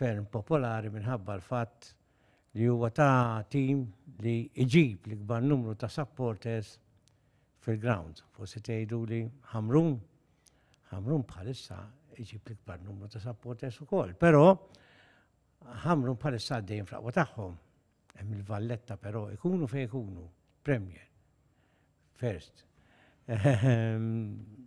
ferm popolari minħabba l-fatt li huwa ta' tim li iġib l-ikbar numru ta' supporters fil-ground. Forsi tgħidu li Ħamrun, Ħamrun bħalissa iġib l-ikbar numru ta' supporters ukoll, però Ħamrun bħalissa għaddejn fl-aqwa tagħhom. Hemm il-Valletta però ikunu fejn ikunu, Premier, First. Ehm,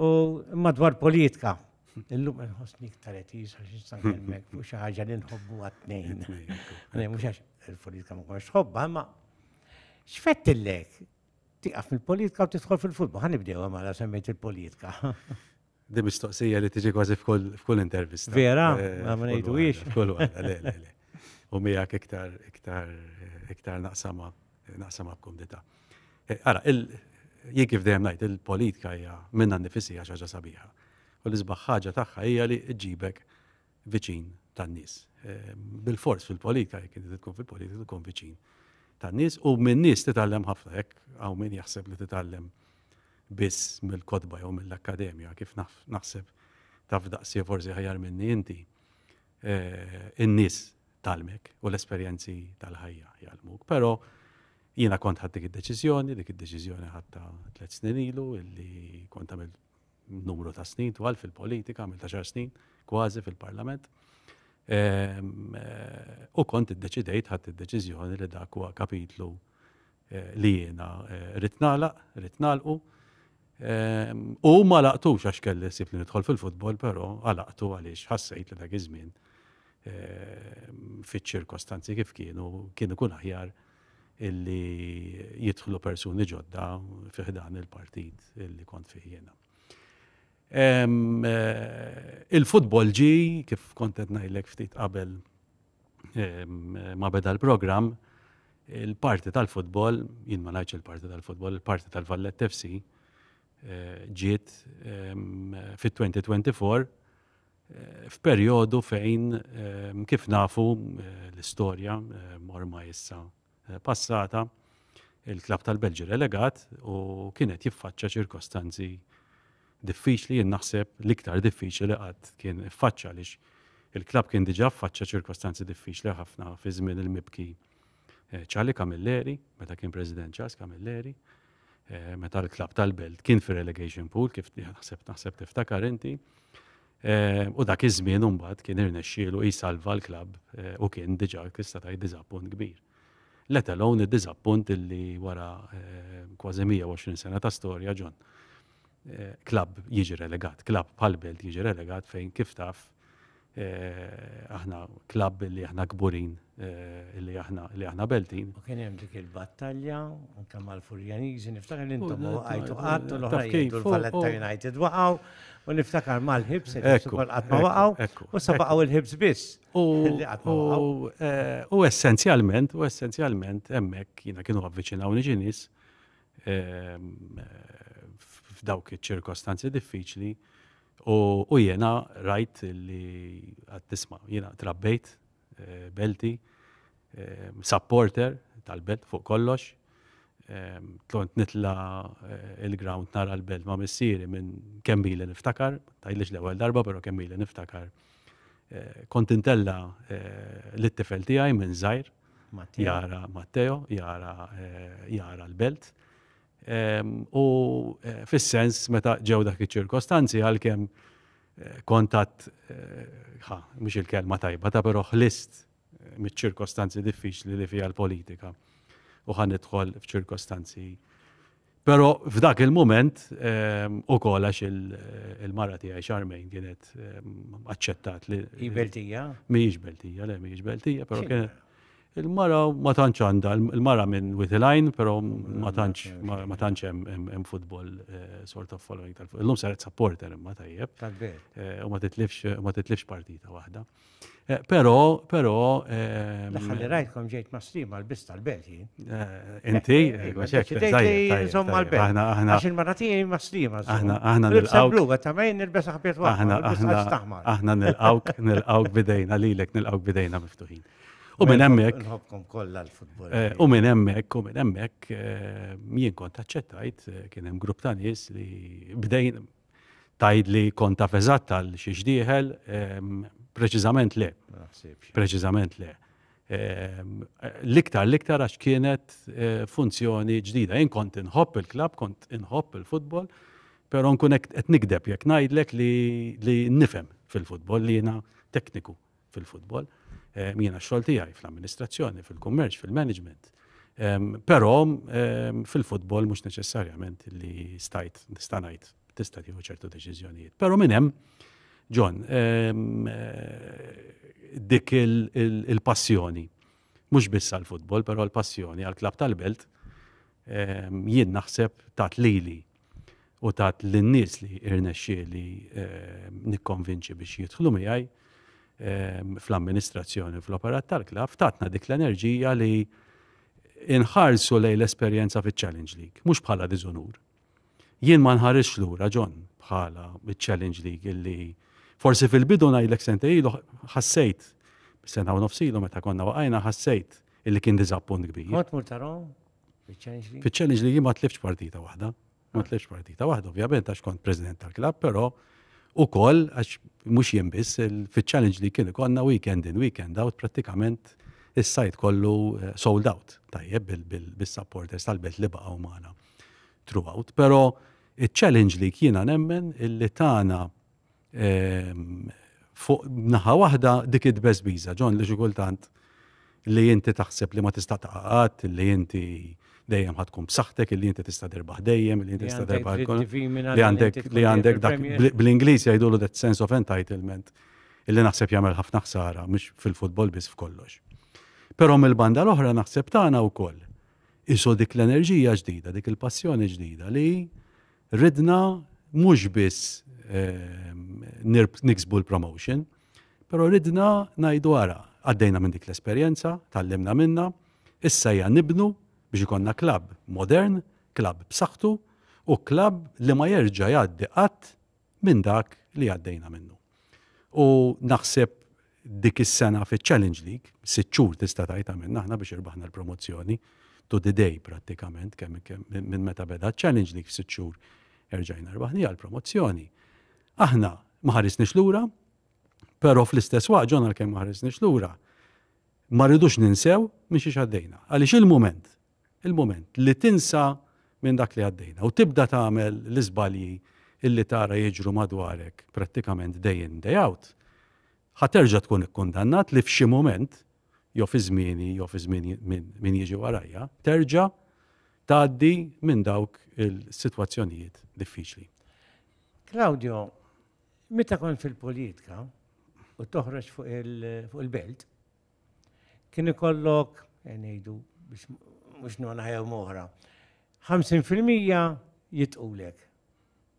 U madwar politika, illum nħossni iktar qed jisa x'istan kelmek fuq xi ħaġa li nħobbu għat-tnejn. Mhux għax il-politika ma konx tħobba, imma x'fettillek tiqaf mill-politika u tidħol fil-futbol. Ħa nibdew għamala semmejt il-politika. Di mistoqsija li tiġi kważi f'kull intervista. Vera, eh, ma ngħidu hiex. F'kull U miegħek iktar iktar iktar naqsama naqsam għal-kumdita. Eh, ara, jien kif dejjem ngħid il-politika hija minna nifisi hija ħaġa sabiħa. U l-isbaħ ħaġa tagħha hija li ġibek viċin tan-nies. Eh, bil-fors fil-politika, jekk inti tkun fil-politika tkun viċin tan-nies u minn nies titgħallem ħafna hekk hawn min jaħseb li titgħallem biss mill-kotba jew mill-akkademja kif naħseb taf daqsi forsi ħajar minni inti. in-nies tgħallmek u l-esperjenzi tal-ħajja jgħallmuk. Però jiena kont ħadd dik id-deċiżjoni, dik id-deċiżjoni ħadta tliet snin ilu illi kont għamil numru ta' snin twal fil-politika, għamil ta' xar snin kważi fil-parlament. Ehm, eh, u kont id-deċidejt ħadd id-deċiżjoni li dak huwa kapitlu eh, li jiena eh, ritnala, ritnalqu, U ma laqtux għax kelli sib li nidħol fil-futbol, però għalaqtu għaliex ħassejt li dak iż-żmien fiċ-ċirkostanzi kif kienu kien ikun aħjar illi jidħlu persuni ġodda fiħdan il-partit illi kont fih jiena. Il-futbol ġi, kif kontet ngħidlek ftit qabel ma beda l-programm, il-parti tal-futbol, jien ma ngħidx il-parti tal-futbol, il-parti tal-Vallett FC eh, ġiet fit-2024 eh, f'perjodu fejn kif nafu eh, l-istorja ormai issa passata, il-klabb tal-Belġju relegat u kien qed jiffaċċa ċirkostanzi diffiċli jien naħseb l-iktar diffiċli li qatt kien iffaċċa għaliex il-klabb kien diġà ffaċċa ċirkostanzi diffiċli ħafna fi żmien il-mibki Ċali eh, Camilleri, meta kien President Ċas Camilleri, eh, meta l-klabb tal-Belt kien fi relegation pool kif naħseb naħseb tiftakar inti. Eh, u dak iż-żmien imbagħad kien irnexxielu jsalva l-klabb eh, u kien diġà tista' tgħid diżappunt kbir. Let alone id-diżappunt illi wara eh, kważi 120 sena ta' storja ġon. Klabb jiġi relegat, klabb bħal belt jiġi relegat fejn kif taf aħna klabb li aħna kburin Eh, li aħna li aħna Beltin. U kien hemm dik il-battalja anke mal-Furjaniżi, niftakar li intom għajtu qatt u l-oħra jgħidu l-Valletta United waqgħu u niftakar mal-ħibs ukoll qatt ma waqgħu u sa baqgħu il-ħibs biss. Eh, u essenzjalment, u essenzjalment hemmhekk jiena kienu avviċinawni ġinis ehm, f'dawk iċ-ċirkostanzi diffiċli u jiena rajt li għad tisma' jiena trabbejt belti, supporter tal-belt fuq kollox. Tlont nitla il-ground nara l-belt ma' missieri minn kemm ili niftakar, tgħidlix l-ewwel darba però kemm ili niftakar. Kont intella lit-tifel tiegħi minn żgħir jara Matteo, jara l-belt. U fis-sens meta ġew dak iċ-ċirkostanzi għalkemm kont għad ħa, mhux il-kelma tajba ta' però ħlist miċ-ċirkostanzi diffiċli li fiha l-politika u ħa nidħol f'ċirkostanzi. Però f'dak il-mument ukoll għax il-mara tiegħi xarmejn kienet aċċettat li. Hi Beltija? Mhijiex Beltija, le mhijiex Beltija, però kienet Il-mara ma tantx għandha, il-mara minn Witty Line, però ma tantx ma tantx hemm football eh, sort of following tal-football. Illum saret supporter imma tajjeb. Eh, u ma titlifx ma titlifx partita waħda. Eh, però, però. Ħalli rajtkom ġejt ma' strim għal-bis tal-belt jien. Inti, għaxek, tajjeb. Aħna, aħna. Għax il-mara tiegħi ma' strim Aħna, aħna. Nilbsa blu, għetta ma' jien nilbsa ħabiet waħda. Aħna, aħna. Aħna nilqawk, nilqawk bidejna lilek, nilqawk bidejna miftuħin. U minn hemmhekk. Nħobkom kollha l-futbol. Eh, u minn hemmhekk, u minn hemmhekk eh, jien kont aċċettajt eh, kien hemm grupp ta' nies li bdejn tajd li kont taf eżatt għal xi xdieħel, ehm, preċiżament le. Preċiżament le. Ehm, l-iktar l-iktar għax kienet funzjoni ġdida. Jien kont inħobb il-klab, kont inħobb il-futbol, però nkun qed nikdeb jekk ngħidlek li nifhem fil-futbol li jiena tekniku fil-futbol. Ehm, jiena x-xogħol tiegħi fl-amministrazzjoni, fil-kummerċ, fil-management. Ehm, però ehm, fil-futbol mhux neċessarjament li stajt nista' ngħid tista' tieħu ċertu deċiżjonijiet. Però minn hemm, John, eh, dik il-passjoni, mhux biss għall-futbol, però l-passjoni għall-klab tal-belt, jien naħseb tat lili u tat lin-nies li irnexxieli nikkonvinċi biex jidħlu miegħi fl-amministrazzjoni u fl-operat tal-klabb, tatna dik l-enerġija li inħarsu lejn l-esperjenza fiċ-Challenge League, mhux bħala diżunur. Jien ma nħarisx lura John bħala ċ-Challenge League illi forsi fil-bidu ngħidlek sentej ilu ħassejt sena u nofsilu meta konna waqajna ħassejt illi kien diżappunt kbir. Kont mur tarhom? Fiċ-Challenge League ma tlifx partita waħda. Ma ah. tlifx partita waħda, ovvjament, għax kont president tal-klab, però u koll, għax mux jien biss, fiċ-Challenge League kien konna weekend in, weekend out, pratikament is-sajt kollu eh, sold out, tajjeb bil-supporters tal-belt li baqgħu magħna throughout. Però il-challenge li kiena nemmen illi tana Fuq naħa waħda dik id-dbeżbiża, John, li xi kultant li inti taħseb li ma tista' taqgħad, li inti dejjem ħad tkun b'saħħtek, li inti tista' derbaħ dejjem, li inti tista' derbaħ li għandek li għandek dak bl-Ingliż jgħidulu that sense of entitlement illi naħseb jagħmel ħafna ħsara mhux fil-futbol biss f'kollox. Però mill-banda l-oħra naħseb tagħna wkoll isu dik l-enerġija ġdida, dik il-passjoni ġdida li Ridna mhux biss niksbu l-promotion, però ridna ngħidu ara, għaddejna minn dik l-esperjenza, tgħallimna minnha, issa hija nibnu biex ikollna klabb modern, klabb b'saħħtu u klabb li ma jerġa' jgħaddi qatt minn dak li għaddejna minnu. U naħseb dik is-sena fiċ-Challenge League, sitt xhur tista' tgħid għamilna aħna biex irbaħna l-promozzjoni to the day prattikament kemm minn meta beda ċ-Challenge League f'sitt xhur erġajna rbaħni għal promozzjoni. Aħna ma ħarisniex lura, però fl-istess waqt ġonna kemm ma ħarisniex lura, ma rridux ninsew minn xi xaddejna. Għaliex il-mument il-mument li tinsa minn dak li għaddejna u tibda tagħmel l-iżbalji illi tara jiġru madwarek prattikament day in day out, ħa terġa' tkun ikkundannat li f'xi mument, jew fi żmieni jew fi żmien min jiġi warajja, terġa' tgħaddi minn dawk il-sitwazzjonijiet diffiċli. Claudio, meta kont fil-politika u toħroġ fuq il-belt, kien ikollok, eh, ngħidu biex mhux nona jew moħra, 50% jitqulek.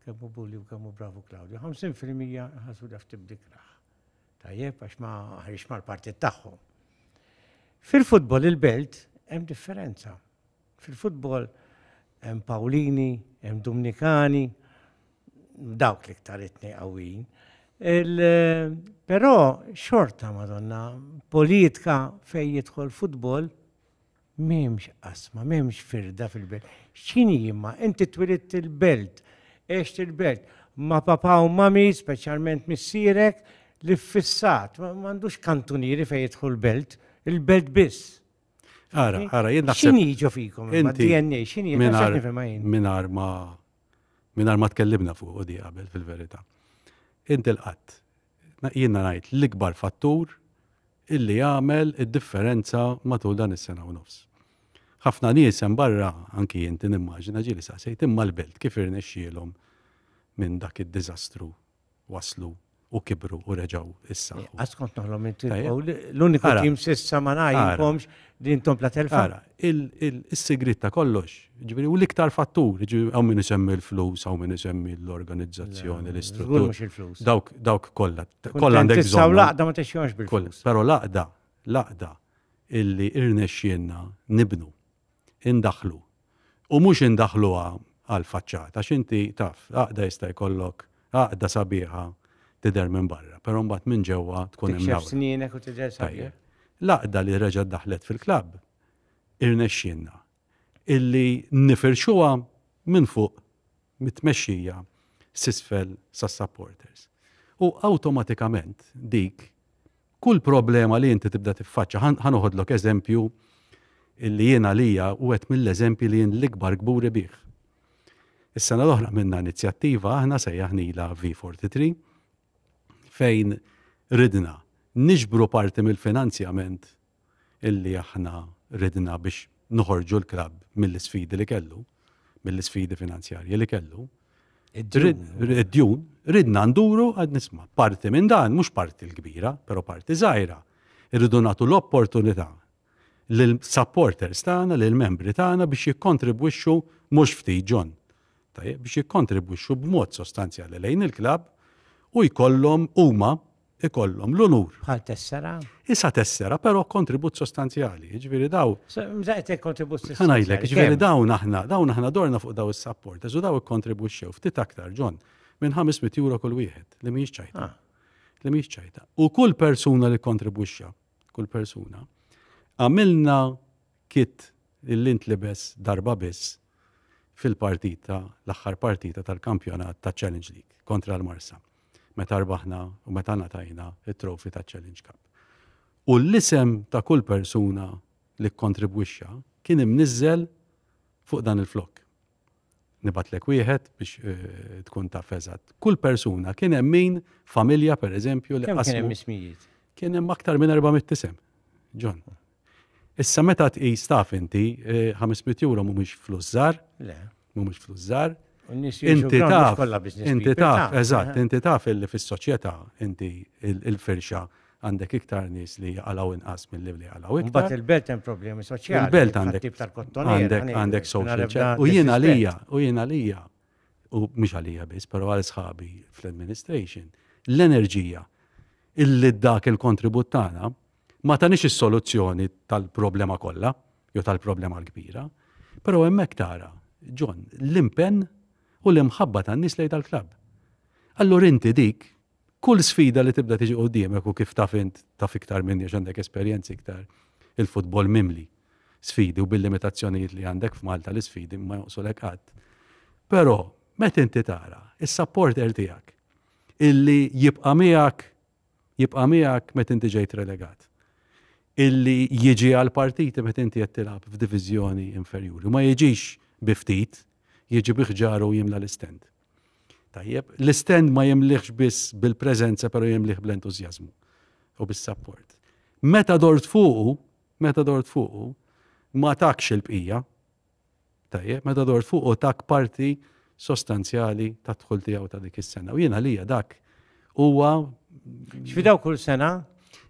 Kemmu bulli u kemmu bravu Claudio, 50% ħasu daf tibdikraħ. Tajjeb, għax ma ħarix mal-partit tagħhom. Fil-futbol il-belt hemm differenza. Fil-futbol hemm Pawlini, hemm Dumnikani, dawk l-iktar it-tnejn qawwijin. Però xorta Madonna, politka fejn jidħol futbol m'hemmx qasma, m'hemmx firda fil-belt. X'inhi imma? Inti twilidt il-belt, għext il-belt, ma' papa u mami, speċjalment missierek, li ffissat, m'għandux kantunieri fejn jidħol belt, il-belt biss. Ara, ara, jien naħseb. Xini jiġu fikom, inti DNA, xini minar ma minar ma tkellimna fuq u di qabel fil-verità. Inti l-qatt, jien ngħid l-ikbar fattur illi għamel id-differenza matul dan is-sena u nofs. Ħafna nies hemm barra anki inti nimmaġina ġieli saqsejt imma l-belt kif irnexxielhom minn dak id-diżastru waslu u kibru u reġaw issa. Eh, għaz kont naħlom inti l-uniku tim sissa ma najkomx din tom la telfa. il-sigrit ta' kollox, ġviri, u l-iktar fattur, ġviri, għaw minn isemmi l-flus, għaw minn isemmi l-organizzazzjoni, l-istruttura. Dawk, dawk kolla. Kolla għandek bżon. Saw laqda ma teċjonx bil-flus. Pero laqda, laqda, illi irnexxienna nibnu, indaħlu, u mhux indaħħluha għall-faċċata għax inti taf, għaqda jista' jkollok għaqda sabiħa tidher minn barra, però mbagħad minn ġewwa tkun imnawra. Tikxef snienek u tidher sabiħ. L-għaqda li reġgħet daħlet fil-klabb irnexxielna illi nifirxuha minn fuq mit-tmexxija s'isfel sas-supporters. U awtomatikament dik Kull problema li inti tibda tiffaċċa, ħa noħodlok eżempju li jien għalija u għed mill-eżempji li jien l-ikbar kburi bih. Is-sena l-oħra minna inizjattiva aħna sejjaħnila V43 fejn ridna niġbru parti mill-finanzjament illi aħna ridna biex noħorġu l-klabb mill-isfidi li kellu, mill-isfidi finanzjarji li kellu. Id-djun, ridna nduru għad nisma. Parti minn dan, mhux parti l-kbira, però parti żgħira. Irridu nagħtu l-opportunità l-supporters tagħna, l-membri tagħna biex jikkontribwixxu mhux ftit ġon. Tajjeb biex jikkontribwixxu b'mod sostanzjali lejn il-klabb u jkollhom huma ikollhom l-unur. Bħal tessera? Isa tessera, però kontribut sostanzjali, jiġifieri daw. Mżaqet il-kontribut sostanzjali. Ħanajlek, jiġifieri dawn aħna, dawn aħna dorna fuq daw is-support, u daw ikkontribwixxew ftit aktar ġon minn 500 euro kull wieħed li mhijiex ċajta. Ah. Li mhijiex ċajta. U kull persuna li kontribwixxa, kull persuna, għamilna kit li ntlibes darba biss fil-partita, l-aħħar partita tal-kampjonat taċ-Challenge League kontra l-Marsa, meta rbaħna u meta ngħatajna t-trofi taċ-Challenge Cup. U l-isem ta' kull persuna li kkontribwixxa kien imniżżel fuq dan il-flokk. nibgħatlek wieħed biex eh, tkun taf eżatt. Kull persuna kien hemm min familja pereżempju li qasmu. Kien hemm ismijiet. Kien hemm aktar minn 400 isem. John. Issa meta tqis taf inti 500 eh, euro mhumiex flus żgħar. Le. Mhumiex flus żgħar. Inti taf, inti taf, eżatt, eh. inti taf illi fis-soċjetà inti il-firxa Għandek iktar nies li jaqalgħu inqas milli li jaqalgħu iktar. Imbagħad il-belt hemm problemi soċjali. Il-belt għandek. Ħattib tal-kottoniera. Għandek għandek social check. U jien għalija, u jien għalija, u mhux għalija biss, però għal sħabi fl-administration, l-enerġija illi dak il-kontribut tagħna ma tanix is-soluzzjoni tal-problema kollha jew tal-problema l-kbira, però hemmhekk tara, John, l-impenn u l-imħabba tan-nies lejn tal-klabb. Allura inti dik Kull sfida li tibda tiġi quddiemek u kif taf int, taf iktar minni għax għandek esperjenzi iktar, il-futbol mimli sfidi u bil-limitazzjonijiet li għandek f'Malta l-isfidi ma jonqsulek qatt. Però meta inti tara is-supporter tiegħek illi jibqa' miegħek jibqa' miegħek meta inti ġejt relegat illi jiġi għal partiti meta inti qed tilgħab f'diviżjoni inferjuri. Ma jiġix biftit, jiġi biħġaru jimla l-istent. Tajjeb, l-istend ma jimliħx biss bil-preżenza però jimliħ bl-entużjażmu u bis-sapport. Meta dort fuqu, meta dort fuqu, ma takx il-bqija. Tajjeb, meta dort fuqu tak parti sostanzjali ta' dħul tiegħu ta' dik is-sena. U jiena lija dak huwa Xfidaw kull sena?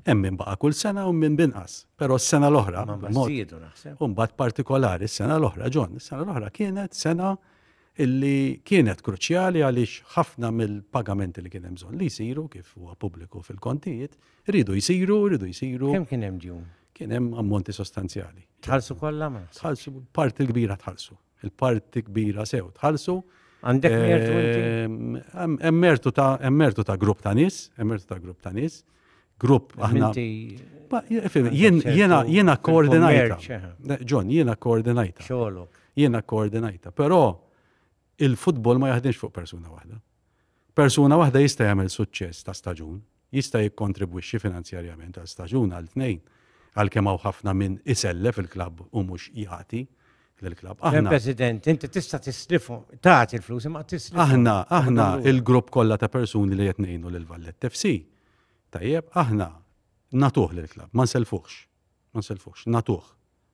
Hemm minn baqa' kull sena u minn binqas. Però s-sena l-oħra, mod partikolari, s-sena l-oħra, John, s-sena l-oħra kienet sena illi kienet kruċjali għaliex ħafna mill-pagamenti li kien hemm bżonn li jsiru kif huwa pubbliku fil-kontijiet, iridu jsiru, iridu jsiru. Kemm kien hemm djun? Kien hemm ammonti sostanzjali. Tħallsu kollha ma? Tħallsu parti l-kbira tħallsu. Il-parti kbira sew tħallsu. Għandek mertu inti? Hemm mertu ta' grupp ta' nies, hemm mertu ta' grupp ta' nies. grupp aħna. Jiena koordinajta. John, jiena koordinajta. Jiena koordinajta. Però il-futbol ma jaħdimx fuq persuna waħda. Persuna waħda jista' jagħmel suċċess ta' staġun, jista' jikkontribwixxi finanzjarjament għal staġun għal tnejn għal kemm hawn ħafna minn isellef il-klabb u mhux jagħti l-klab. Aħna. President, inti tista' tislifu, tagħti l-flus imma tislifu. Aħna, aħna il-grupp kollha ta' persuni li qed ngħinu lil Vallet FC. Tajjeb, aħna natuh l-klab, ma nselfuħx. Ma nselfuħx, natuh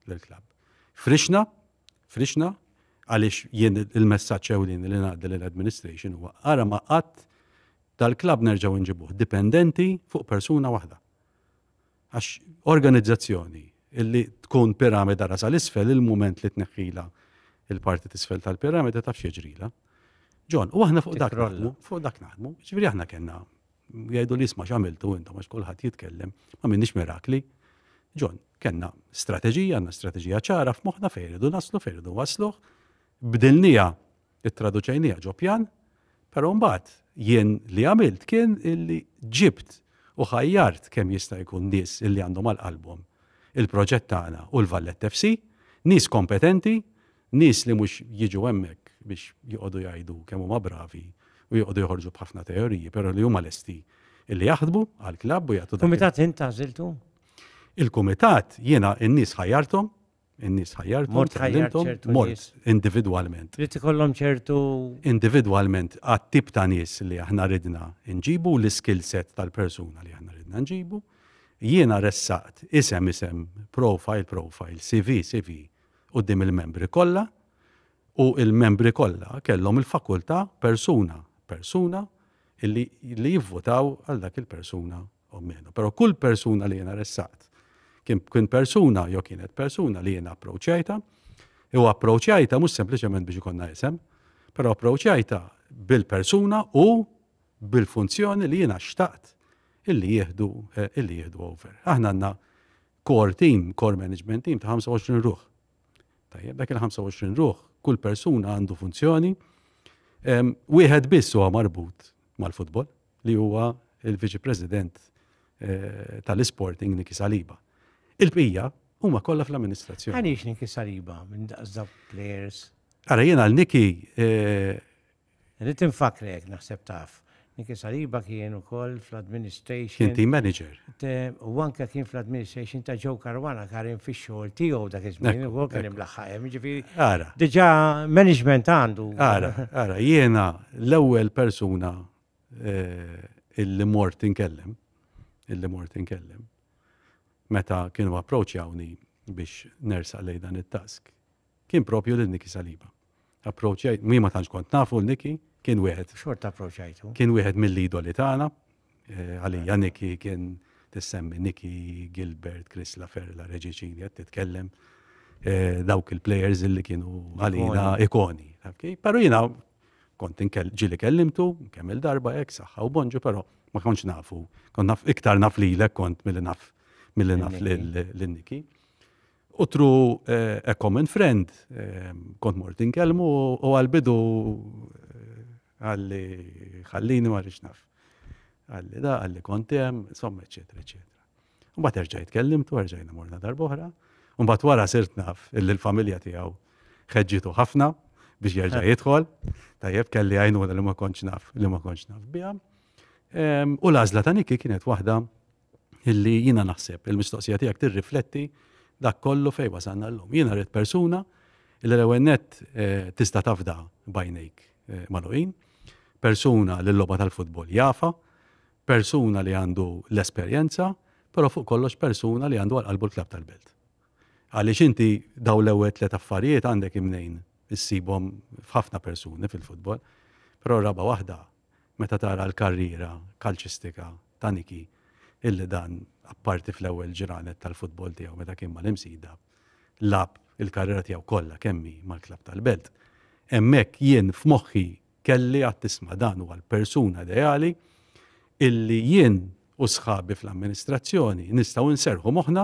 l-klab. Frixna, frixna, għaliex jien il-messaġġ ewlin li ngħaddi l-administration huwa ara ma qatt tal-klab nerġgħu nġibuh dipendenti fuq persuna waħda. Għax organizzazzjoni illi tkun piramida ra sal-isfel il-mument li tneħħila il-parti tisfel tal-piramida taf xieġrila. Ġon, u aħna fuq dak naħdmu, fuq dak naħdmu, ġviri aħna kena, jgħidu li jisma xamiltu intom għax kullħat jitkellem, ma minnix mirakli. Ġon, kena strategija, għanna strategija ċara f'moħna fejridu naslu, fejridu wasluħ, bdilnija Ittraduċejniha ġo pjan, però mbagħad jien li għamilt kien illi ġibt u ħajjart kemm jista' jkun nies illi għandhom għal qalbhom il-proġett tagħna u l-Valletta FC, nies kompetenti, nies li mhux jiġu hemmhekk biex joqogħdu jgħidu kemm huma bravi u joqogħdu joħorġu b'ħafna teoriji, però li huma lesti illi jaħdmu għall-klabb u jagħtu dak. Kumitat int għażiltu? Il-kumitat jiena n-nies ħajjarthom, In-nies ħajjarthom. Mort ħajjart ċertu nies. Individwalment. Rrid ikollhom ċertu. Individwalment għat-tip ta' nies li aħna ridna nġibu l-skill set tal-persuna li aħna ridna nġibu. Jiena ressaqt isem isem, profile profile, CV CV u dim il-membri kollha u il-membri kollha kellhom il-fakultà persuna persuna illi li jivvotaw għal dak il-persuna O meno. Però kull persuna li jiena ressaqt kien kien persuna jew kienet persuna li jiena approċċajta, u approċċajta mhux sempliċement biex ikonna isem, però approċċajta bil-persuna u bil-funzjoni li jiena xtaqt illi jieħdu eh, illi jieħdu over. Aħna għandna core team, core management team ta' 25 ruħ. Tajjeb, dak il-25 ruħ, kull persuna għandu funzjoni, wieħed biss huwa marbut mal-futbol, li huwa il-Viċi President eh, tal-Isporting Niki Saliba. Il-bqija huma kollha fl-amministrazzjoni. Għaliex Niki Saliba minn daqsda players? Ara jiena għal Niki. Eh, Rrit infakrek naħseb taf. Niki Saliba kien ukoll fl-administration. Kien team manager. U anke kien fl-administration ta' Joe Karwana karin fi xogħol tiegħu dak iż-żmien ukoll kien imlaħħajem, ġifieri. Ara. Diġà management għandu. Ara, ara, jiena l-ewwel persuna eh, illi mort inkellem, illi mort inkellem, meta kienu approċjawni biex nersaq lej dan it-task, kien propju lil Niki Saliba. Approċjajt, mi ma tantx kont nafu l-Niki, kien wieħed. Xort approċjajtu. Kien wieħed mill-idoli tagħna, eh, għalija Niki kien tissemmi Niki, Gilbert, Chris Laferla, Reġiċini, qed titkellem eh, dawk il-players illi kienu għalina ikoni. Pero jina Kont inkell ġieli kellimtu, kemm il-darba hekk, saħħa u bonġu, però ma kontx nafu. Kont naf iktar naf lilek kont milli naf milli naf lil Niki. U tru eh, a common friend, eh, kont mort inkellmu u għal-bidu eh, għalli ħallini ma rix naf. Għalli da, għalli kontem, insomma, eccetera, eccetera. U bat erġajt kellimtu, erġajna morna darbohra. U bat wara sirt naf illi l-familja tijaw ħedġitu ħafna biex jerġa jidħol. Tajjeb kelli għajnuna li ma konċ naf, li ma konċ naf bija. U lażla ta' Niki kienet waħda illi jina naħseb il-mistoqsija tijak tirrifletti dak kollu fej wasanna l-lum. Jina rrit persuna illi l-ewennet eh, tista tafda bajnejk eh, maluqin, persuna l-loba tal-futbol jafa, Persuna li għandu l-esperjenza, però fuq kollox persuna li għandu għal qalbu l-klabb tal-belt. Għaliex inti dawn l-ewwel tliet affarijiet għandek imnejn issibhom f'ħafna persuni fil-futbol, però r-raba' waħda meta tara l-karriera kalċistika ta' Niki illi dan apparti fl-ewwel ġranet tal-futbol tiegħu meta kien mal-Imsida, lagħab il-karriera tiegħu kollha kemm hi mal-klabb tal-belt. Hemmhekk jien f'moħħi Kelly għad tisma' dan huwa l-persuna ideali illi jien u sħabi fl-amministrazzjoni nistgħu nserrħu moħħna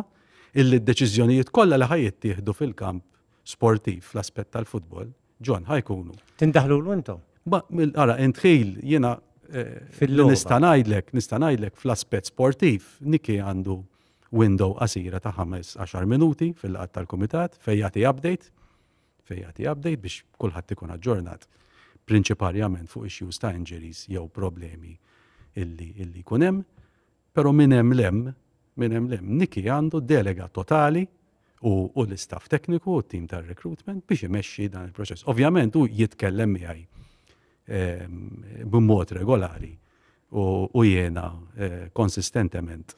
illi d-deċiżjonijiet kollha li ħa jittieħdu fil-kamp sportiv fl-aspett tal-futbol, John, ħa jkunu. Tindaħlulu intom? Ba, ara, intħil, jiena eh, nista' ngħidlek, nista' ngħidlek fl-aspett sportiv, Niki għandu window qasira ta' 5-10 minuti fil-laqat tal-kumitat fejn jagħti update fejn jagħti update biex kulħadd ikun aġġornat prinċiparjament fuq issues ta' injuries jew problemi illi illi jkun hemm, però minn hemm lem minn hemm lem Niki għandu delega totali u, u l-istaff tekniku u t-tim tar-recruitment biex imexxi dan il-proċess. Ovvjament u jitkellem miegħi ehm, b'mod regolari u, u jiena eh, konsistentement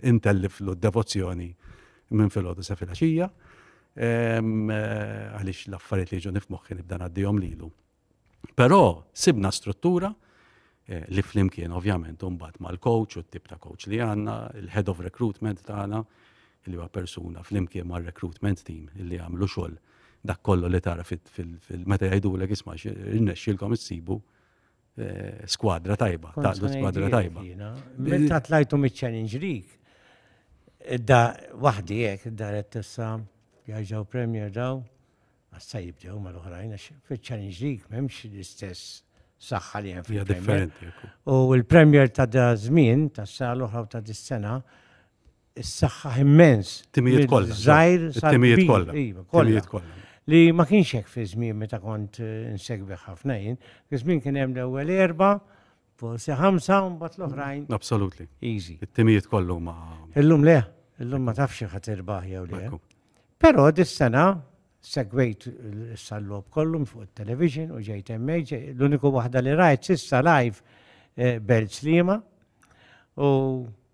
intelliflu d-devozzjoni minn filgħodu sa filgħaxija għaliex l-affarijiet li jiġu nifmoħħi nibda ngħaddihom lilu. Però sibna struttura Eh, li flimkien ovvjament mbagħad mal-coach u t-tip ta' coach li għandna, il-head of recruitment tagħna li huwa persuna flimkien mar-recruitment team li għamlu xogħol dak kollu li tara fil-meta jgħidulek isma' irnexxilkom issibu Eh, skwadra tajba, taqdu skwadra tajba. Meta tlajtu mit-Challenge League, da wahdi jek, da rettessa jgħajġaw Premier daw, għassa jibdew ma l-oħrajn, fil-Challenge League memx l-istess saħħa li jen fil-Premier. U l-Premier ta' da zmin, ta' s-sal oħra ta' dis-sena, issaħħaħ immens. Timijiet kollha. Żgħir timijiet kollha. Iva, timijiet kollha. Li ma kienx hekk fi żmien meta kont eh, insegwi ħafna jien. Fi żmien kien hemm l-ewwel erba' forsi ħamsa u mbagħad l-oħrajn. Absolutely. Easy. It-timijiet kollu ma. Illum le, illum ma tafx ħadd irbaħ jew le. Però dis-sena segwejt s-sallob kollu fuq il-television u ġejt emmej, l-uniku waħda li rajt sissa live eh, Belt Slima u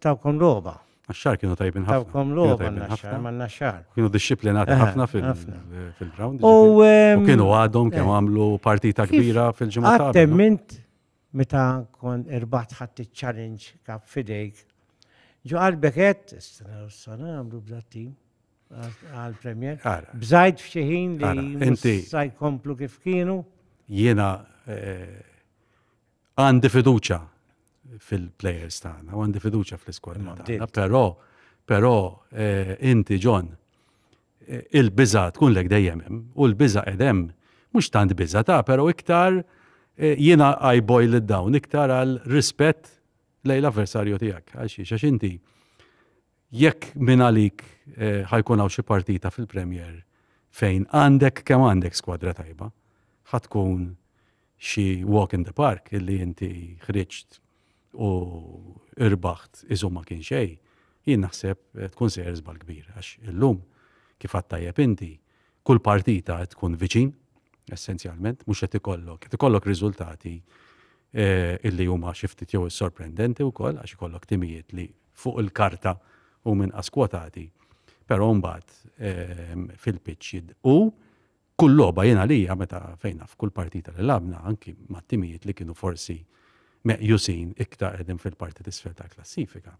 Tawkom roba. Naxxar kienu tajbin ħafna. Tawkom roba naxxar, ma naxxar. Kienu disciplinati ħafna fil-ground. U kienu għadhom kemm għamlu partita kbira fil-ġimgħa. Għattemmint meta kon irbat ħadd iċ-challenge kap fidejk. Ġo qalbek qed, s-sana għamlu bdattin għal-premier. Bżajt fxieħin li sajkomplu kif kienu. Jiena Għandi fiduċa fil-players tagħna, u għandi fiduċa fl-iskwadra tagħna, però però eh, inti John eh, il-biża tkun lek dejjem hemm u l-biża qed hemm mhux tant biża ta' però iktar eh, jiena I boil it down iktar għal rispett lejn l-avversarju tiegħek għal xiex għax inti jekk minn għalik ħajkun hawn xi partita fil-Premier fejn għandek kemm għandek skwadra tajba ħatkun xi walk in the park illi inti ħriġt u irbaħt iżu ma kien xej, jien naħseb eh, tkun sejjer żbal kbir għax illum kif għattajjeb inti kull partita qed tkun viċin essenzjalment mhux qed ikollok qed ikollok riżultati eh, illi huma xi ftit jew sorprendenti wkoll għax ikollok timijiet li fuq il-karta u minn askwotati. Però mbagħad eh, fil-pitch u Kull logħba jien għalija meta fejn naf kull partita li lagħbna anki mat-timijiet li kienu forsi meqjusin iktar qegħdin fil-parti t'isfel tal-klassifika.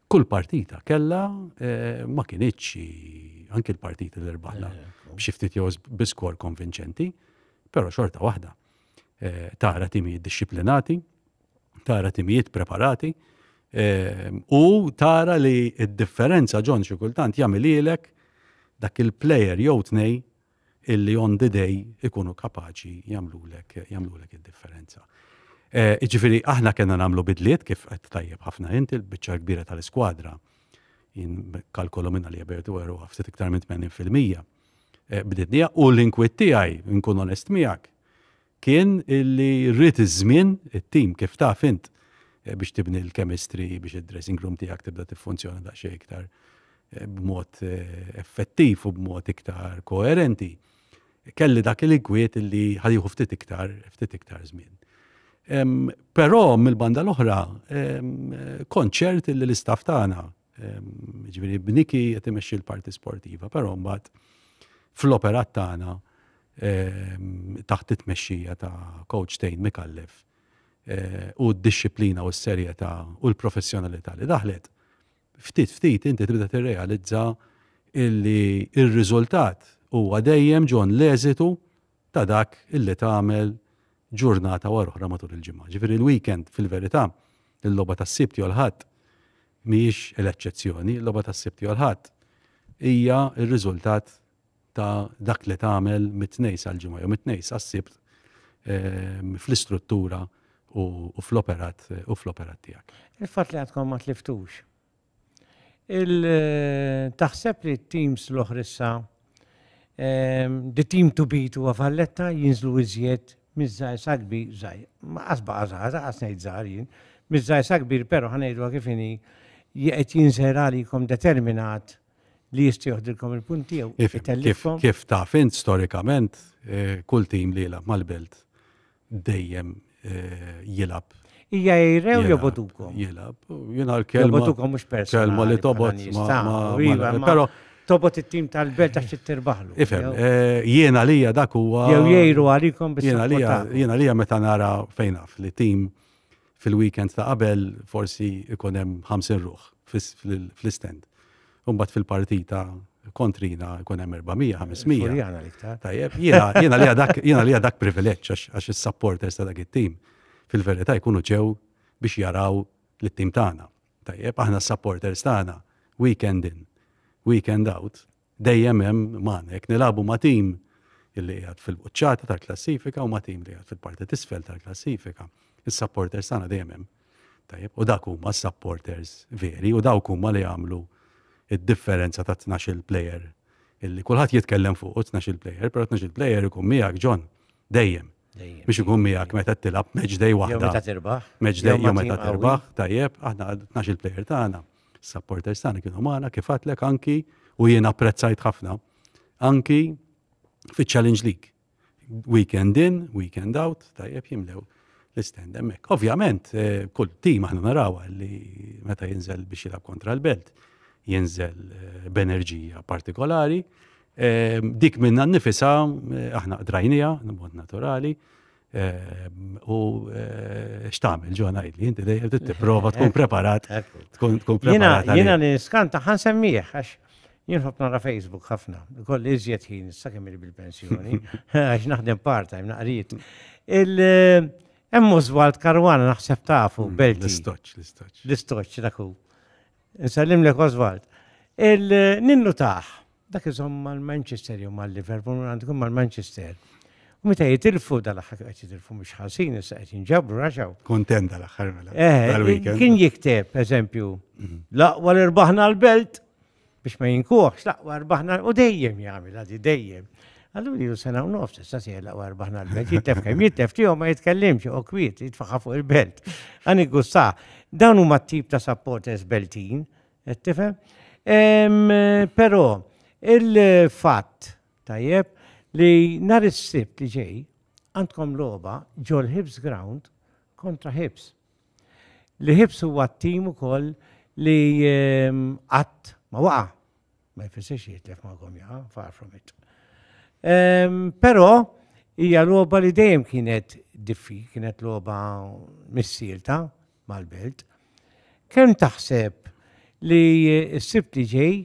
Kull partita kellha eh, ma kinitx anki l-partiti li rbaħna eh, eh, b'xi ftit jew biskor konvinċenti, però xorta waħda tara timijiet dixxiplinati, tara timijiet preparati ehm, u tara li id-differenza ġon xi kultant jagħmililek dak il-player jew tnej illi on the day ikunu kapaċi jagħmlulek jagħmlulek id-differenza. Eh, Ġifiri, aħna kena namlu bidliet kif qed tajjeb ħafna inti l-biċċa kbira tal-iskwadra. Jien kalkolu minna li jabertu għeru għaftit iktar minn 80% eh, bdidnija u l-inkwit tiegħi nkun onest miegħek kien illi rrid iż-żmien, it-tim kif taf int eh, biex tibni l-chemistry biex id-dressing room tiegħek tibda tiffunzjona daqsxejn iktar eh, b'mod eh, effettiv u b'mod iktar koerenti. Kelli dak il-inkwiet illi ħadiħu ftit iktar, ftit iktar żmien. Però mill-banda l-oħra, konċert illi l-istaff tagħna Ġifieri b'Niki qed imexxi l-parti sportiva, però mbagħad fl-operat tagħna taħt it-tmexxija ta' coach Tejn Mikallef eh, u d-disciplina u s-serjetà u l-professjonalità li daħlet, ftit ftit inti tibda tirrealizza illi il-riżultat huwa dejjem ġon l-eżitu ta' dak illi tagħmel ġurnata wara oħra matul il-ġimgħa. Ġifieri l-weekend fil-verità, il-logħba tas-Sibt jew l-Ħadd mhijiex l-eċċezzjoni, il-logħba tas-Sibt jew l-Ħadd hija r-riżultat ta' dak li tagħmel mit-Tnejn sal-Ġimgħa jew mit-Tnejn sas-Sibt ehm, fl-istruttura u fl-operat u fl-operat tiegħek. Il-fatt li għadkom ma tliftux Il taħseb li t-teams l-oħra issa the team to beat huwa Valletta jinżlu iżjed miż-żgħir sa kbir żgħir. Ma qas baqa' żgħar, qas ngħid żgħar jien. Miż-żgħir sa kbir però ħanejdu kif inhi qed jinżer għalikom determinat li jista' joħdilkom il-punt tiegħu. Kif taf int storikament kull tim li jilgħab mal-Belt dejjem jilab. Ija jirrew jobodukom. Jilab. Jina l-kelma. Jobodukom mux persona. Kelma li tobot. Pero. Tobot it-tim tal-belt għax t-tirbaħlu. Ifem, eh, jena lija dak huwa. Jew jgħiru għalikom bis Jena lija meta nara fejnaf li tim fil-weekend ta' qabel forsi ikun hemm 50 ruħ fl-istend. Umbat fil-partita kontrina ikun hemm 400-500. Tajjeb, jiena li dak privileġġ għax is-supporters ta' dak it-tim fil-verità jkunu ġew biex jaraw l-tim tagħna. Tajjeb, aħna s-supporters tagħna weekend in, weekend out, Dejjem hemm magħna jekk nilagħbu ma' tim illi qiegħed fil-quċċata tal-klassifika u ma' tim li qiegħed fil-parti tisfel tal-klassifika. Is-supporters tagħna dejjem hemm. Tajjeb, u dak huma s-supporters veri u dawk huma li jagħmlu id-differenza ta' 12 player illi kulħadd jitkellem fuq 12 player, però 12 player ikun miegħek John dejjem. Biex ikun miegħek meta tilab match day waħda. Meta tirbaħ. Match day jew meta tirbaħ, tajjeb, aħna 12 player tagħna. Ta Supporters tagħna kienu magħna kif għatlek anki u jien apprezzajt ħafna anki fiċ-Challenge League. Weekend in, weekend out, tajjeb jimlew l-istend hemmhekk. Ovvjament, eh, kull tim aħna naraw li meta jinżel biex jilab kontra l-belt, jinżel eh, b'enerġija partikolari. Eh, dik minna nifisa aħna qdrajnija, mod naturali, U x'tagħmel ġo ngħidli, inti dejjem tipprova tkun preparat. Tkun preparat. Jiena li niskanta ħan semmiħ, għax jien ħobb nara Facebook ħafna. Kolli iżjed ħin sa kemm bil-pensjoni, għax naħdem part-time naqrit. Hemm Oswald Karwana naħseb tafu mm, Belti. L-istoċ, l-istoċ. L-istoċ daku. Nsallim lek Oswald. Il-ninnu taħ, Dak iżomm mal-Manchester jew mal-Liverpool minn għandu kien mal-Manchester. U meta jitilfu dal-aħħar kien qed jitilfu mhux ħażin issa qed jinġabru raxaw. Kontent dal-aħħar mela. Eh, kien jikteb, eżempju, mhm. l-aqwa li rbaħna l-belt biex ma jinkuħx, l-aqwa rbaħna u dejjem jagħmel għadi dejjem. Għallu li sena u nofs, issa si l-aqwa rbaħna l-belt, jittef kemm jittef tiegħu ma jitkellimx u kwiet jitfaħħa fuq il-belt. Għani gusta, dawn huma t-tip ta' supporters beltin Qed tifhem? Em, Però il-fatt tajjeb li nhar is-Sibt li ġej għandkom logħba ġol Hibs Ground kontra Hibs. Li Hibs huwa t-tim ukoll li em, qatt ma waqa. Ma jfissirx jitlef ma' gomja, far from it. Em, Però hija logħba li dejjem kienet diffi, kienet logħba missielta, mal-belt. Kemm taħseb li s-sibt li ġej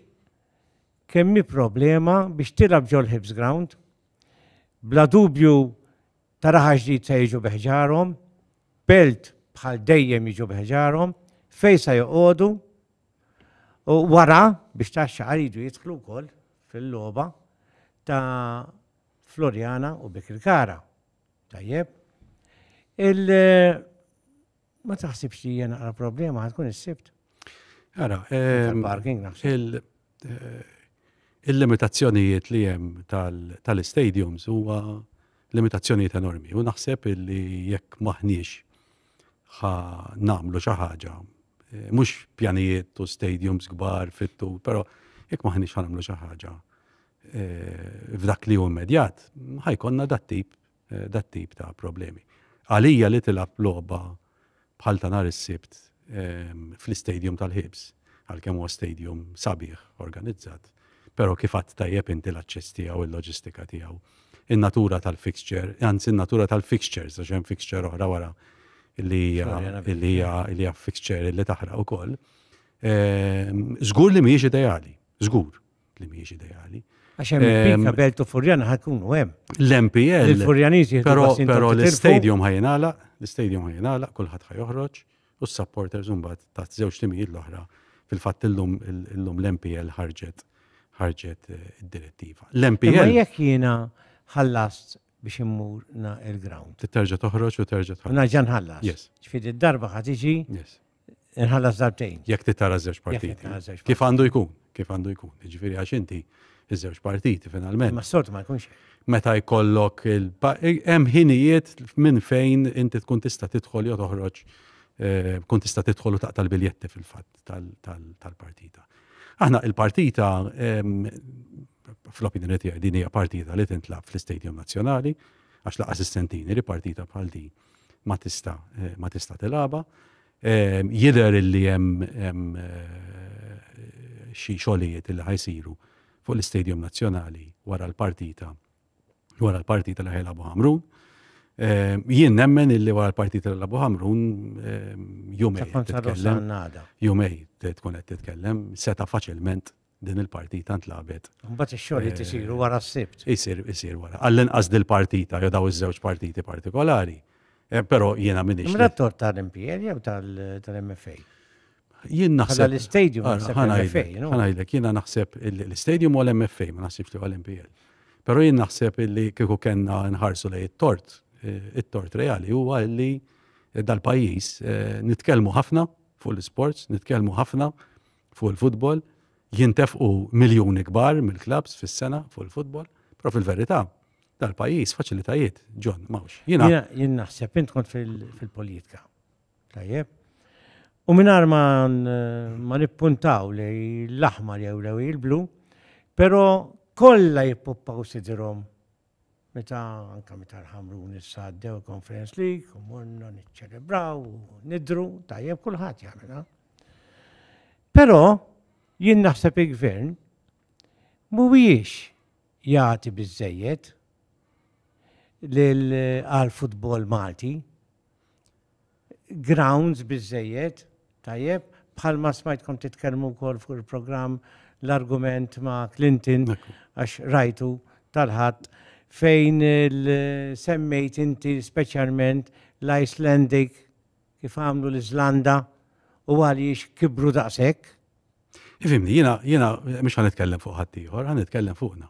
kemm hi problema biex tilgħab ġol Hibs Ground? Bla dubju taraħa ġdid se jiġu beħġarhom, belt bħal dejjem jiġu beħġarhom, fej se joqogħdu u wara biex taxxa għaridu jidħlu wkoll fil-logħba ta' Floriana u Bikirkara. Tajjeb. Il ma taħsibx li jena għal problema ħatkun is-sibt. Għara, ehm, parking eh, Il-limitazzjonijiet li jem tal-stadiums huwa limitazzjonijiet enormi. U naħseb li jekk maħniex ħa namlu xi ħaġa, eh, mhux pjanijiet u stadiums kbar fittu, però jekk maħniex ħa namlu xi ħaġa eh, f'dak li hu immedjat, ħajkonna dat tip eh, dat tip ta' problemi. Għalija li tilab logħba bħal ta' nhar is-Sibt ehm, fl-istadium tal-ħibs, għalkemm huwa stadium sabiħ organizzat, però kif għadd tajjeb inti l-aċċess tiegħu il-loġistika tiegħu. In-natura tal-fixture, anzi in-natura tal-fixtures, għax hemm fixture oħra wara li hija fixture li taħraq ukoll. Ehm, żgur li mhijiex ideali, żgur. li mhijiex ideali. Għax hemm il-pika belt u Furjana ħakunu hemm. L-MPL. Il-Furjaniżi Però però l-istadium ħajnala, l-istadium ħajnala, kulħadd ħajoħroġ u s-supporters imbagħad ta' żewġ timijiet l-oħra fil-fatt illum illum l-MPL ħarġet ħarġet eh, id-direttiva. L-MPL. Ma jekk jiena ħallast biex immur na il-ground. Terġa' toħroġ u terġa' tħallas. Naġa nħallas. Yes. Ġifieri d-darba ħad iġi. Yes. Inħallas darbtejn. Jekk titara żewġ partiti. Kif għandu jkun? Kif għandu jkun? Ġifieri għax inti iż-żewġ partiti finalment. Ma s-soltu ma jkunx. Meta jkollok hemm ħinijiet minn fejn inti tkun tista' tidħol jew toħroġ eh, kun tista' tidħol u taqta' l-biljetti fil-fatt tal-partita. Aħna il-partita fl-opinjoni tiegħi din hija partita li tintlab fl-Istadium Nazzjonali għax laqas is-sentini li partita bħal din ma tista' ma tista' tilgħabha. Jidher illi hemm xi xogħlijiet li ħajsiru fuq l-Istadium Nazzjonali wara l-partita wara l-partita li ħajlabu Ħamrun. Ehm, jien nemmen illi wara l-partita l labu Ħamrun ehm, jumej titkellem. Jumej tkun qed titkellem, seta faċilment din il-partita ntlabet. Mbagħad ix-xogħol li tisiru wara s-sibt. Isir, isir wara. Għall-inqas dil-partita, jew daw iż-żewġ partiti partikolari. Eh, però jiena minix. Mela tor tal-MPL jew tal-MFA? Jien naħseb. Għal l-istadium Ħanajdlek, jiena naħseb l-istadium u l-MFA, ma naħsibx li għal-MPL. Però jien naħseb li kieku kenna nħarsu lej it-tort, eh, it-tort reali huwa li dal-pajjiż eh, nitkellmu ħafna fuq l-sports, nitkellmu ħafna fuq il-futbol, jintefqu miljuni kbar mill-klabbs fis-sena fuq il-futbol, però fil-verità dal-pajjiż faċilitajiet, John, mawx. Jiena jien naħseb int kont fil-politika. Tajjeb. U mingħajr ma ma nippuntaw li l-aħmar jew lew il-blu, però kollha jippuppaw sidrhom Meta, anke meta l-Ħamrun issa għaddew il-Conference League u morna niċċelebraw u nidhru, tajjeb kulħadd jagħmilha. Però jien naħseb il-Gvern mhuwiex jagħti biżejjed għal futbol Malti. grounds biżżejjed, tajjeb, bħalma smajtkom titkellmu wkoll fuq il-programm l-argument ma' Clinton għax rajtu tal-ħadd fejn semmejt inti speċjalment l-Icelandic kif għamlu l-Iżlanda u għaliex kibru daqshekk. Ifimni, jiena jiena mhux ħanitkellem fuq ħaddieħor, ħanitkellem fuqna.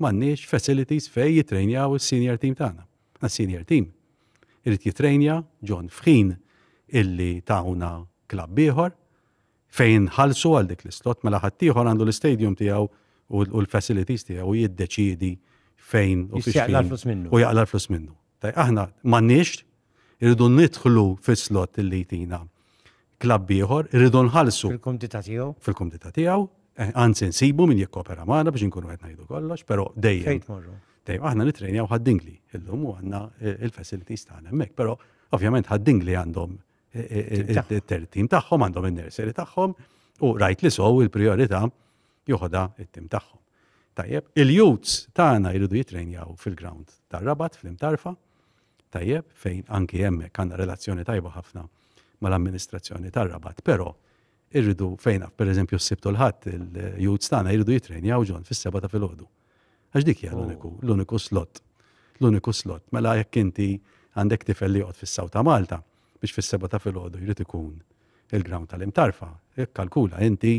M'għandniex facilities fejn jittrejnjaw is-senior team tagħna. Għas-senior team irid jittrejnja John f'ħin illi tawna klabb ieħor fejn nħallsu għal dik l-islot mela ħaddieħor għandu l-istadium tiegħu u l-facilities tiegħu jiddeċiedi fejn u fiex u jaqla l-flus minnu. Taj, aħna m'għandniex, irridu nidħlu fis-slot li jtina klabb ieħor, irridu nħallsu. Fil-kumdita tiegħu. Fil-kumdita tiegħu, eh, anzi nsibu min jikkopera magħna biex inkunu qed ngħidu kollox, però dejjem. Dejjem aħna nitrenjaw ħaddingli illum u għandna eh, il-facilities tagħna hemmhekk, però ovvjament ħaddingli għandhom it-tertim tagħhom għandhom in-nursery tagħhom u rajt li sow il-priorità joħodha it-tim tagħhom. Tajjeb, il-youths tagħna jridu jitrejnjaw fil-ground tar-rabat fl-imtarfa, tajjeb, fejn anki hemmhekk għandna relazzjoni tajba ħafna mal-amministrazzjoni tar-rabat, però Irridu fejn naf, pereżempju s-Sibt u l-Ħadd il-youths tagħna jridu jitrejnjaw ġon fis-seba' ta' filgħodu. Għax dik hija l-uniku, oh. l-uniku slot. L-uniku slot. Mela jekk inti għandek tifel li joqgħod fis-Saw ta' Malta biex fis-seba' ta' filgħodu jrid ikun il-ground tal-imtarfa, kalkula inti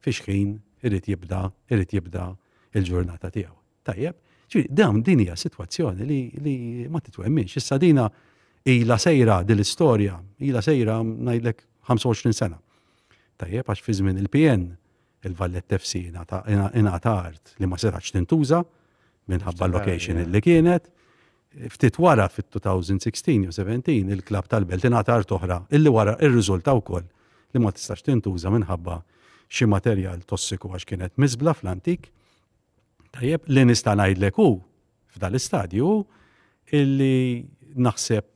fiex ħin irid jibda, irid jibda il-ġurnata tiegħu. Tajjeb, ġifieri dawn din hija sitwazzjoni li, li ma titwemminx. Issa dina ila sejra din l-istorja, ila sejra ngħidlek 25 sena. Tajjeb għax fi żmien il-PN il-Vallet FC ingħata art li ma setax tintuża minħabba l-location li kienet. Ftit wara fit-2016 u 17 il-klab tal-Belt ingħata art oħra illi wara ir-riżulta wkoll li ma tistax tintuża minħabba xi materjal tossiku għax kienet miżbla fl-antik. Tajjeb, li nista' ngħidlek hu f'dan l-istadju illi naħseb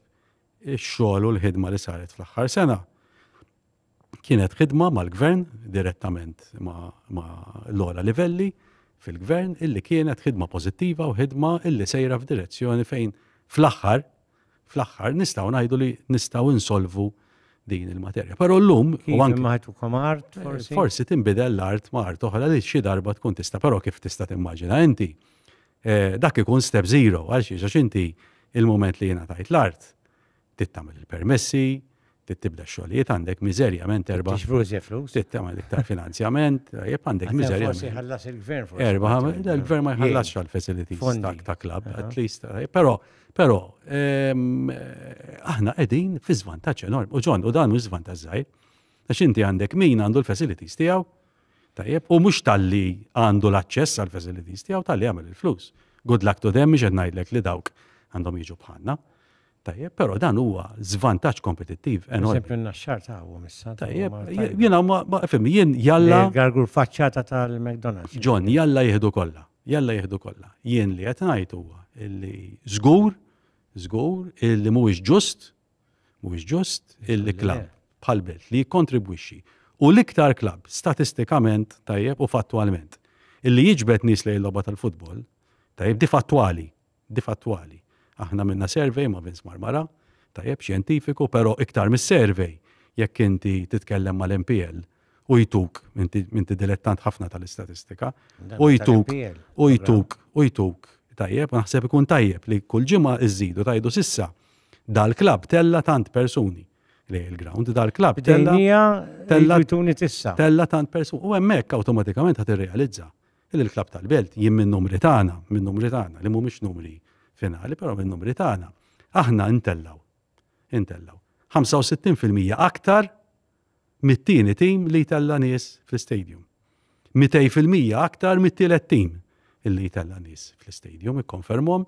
ix-xogħol u l-ħidma li saret fl-aħħar sena kienet ħidma mal-gvern direttament ma' l-ola livelli fil-gvern illi kienet ħidma pozittiva u ħidma illi sejra f'direzzjoni fejn fl-aħħar fl-aħħar nistgħu ngħidu li nistgħu insolvu din il-materja. Però llum u anke maħtukom art eh, forsi. Forsi tinbidel l-art ma' art oħra li xi darba tkun tista' però kif tista' timmaġina inti. Eh, dak ikun step zero għal xi għax inti il-moment li jiena tajt l-art tittamel il-permessi, trid tibda x-xogħlijiet, għandek miżerjament erba'. Trid tiġbru iżjed flus. Trid tagħmel iktar finanzjament, tajjeb għandek miżerjament. Forsi jħallas il-gvern forsi. Erba' il-gvern ma jħallasx għal facilities ta' club, at least. Però, però, ehm, aħna qegħdin fi żvantaġġ enorm. U ġon, u dan mhux żvantaġġ żgħir. Għax inti għandek min għandu l-facilities tiegħu, tajjeb, u mhux talli għandu l-aċċess għal facilities tiegħu talli għamel il-flus. Good luck to them, mhux qed ngħidlek li dawk għandhom jiġu bħalna. Tajjeb, però dan huwa żvantaġġ kompetittiv enormi. Eżempju n-naxxar tagħhom issa. Tajjeb, jiena ma fim, jien jalla. Gargur faċċata tal-McDonald's. John, jalla jieħdu kollha, jalla jieħdu kollha. Jien li qed ngħid huwa li żgur, żgur illi mhuwiex ġust, mhuwiex ġust illi klabb bħal belt li jikkontribwixxi u l-iktar klabb statistikament tajjeb u fattwalment illi jiġbed nies lejn logħba tal-futbol, tajjeb di fattwali, difattwali. Aħna għamilna survey ma' Vince Marmara, tajjeb, xjentifiku, però iktar mis-survey, jekk inti titkellem mal-MPL u jtuk, inti inti dilettant ħafna tal-istatistika, u jtuk, u jtuk, u jtuk, tajjeb, naħseb ikun tajjeb li kull ġimgħa iżżidu tajdu sissa dal-klabb tella tant persuni li il-ground dal-klabb tella Bdejnija tella- jtuni tissa. tella tant persuni. U hemmhekk awtomatikament ħad irrealizza li l-Klabb tal-Belt jien min-numri tagħna, min-numri tagħna li mhumiex numri finali, però min-numri tagħna, aħna intellgħu, intellgħu 65% aktar mit-tieni tim li jtella' nies fl-istadium. 200% aktar mit-tielet tim illi jtella' nies fl-istadium, ikkonfermhom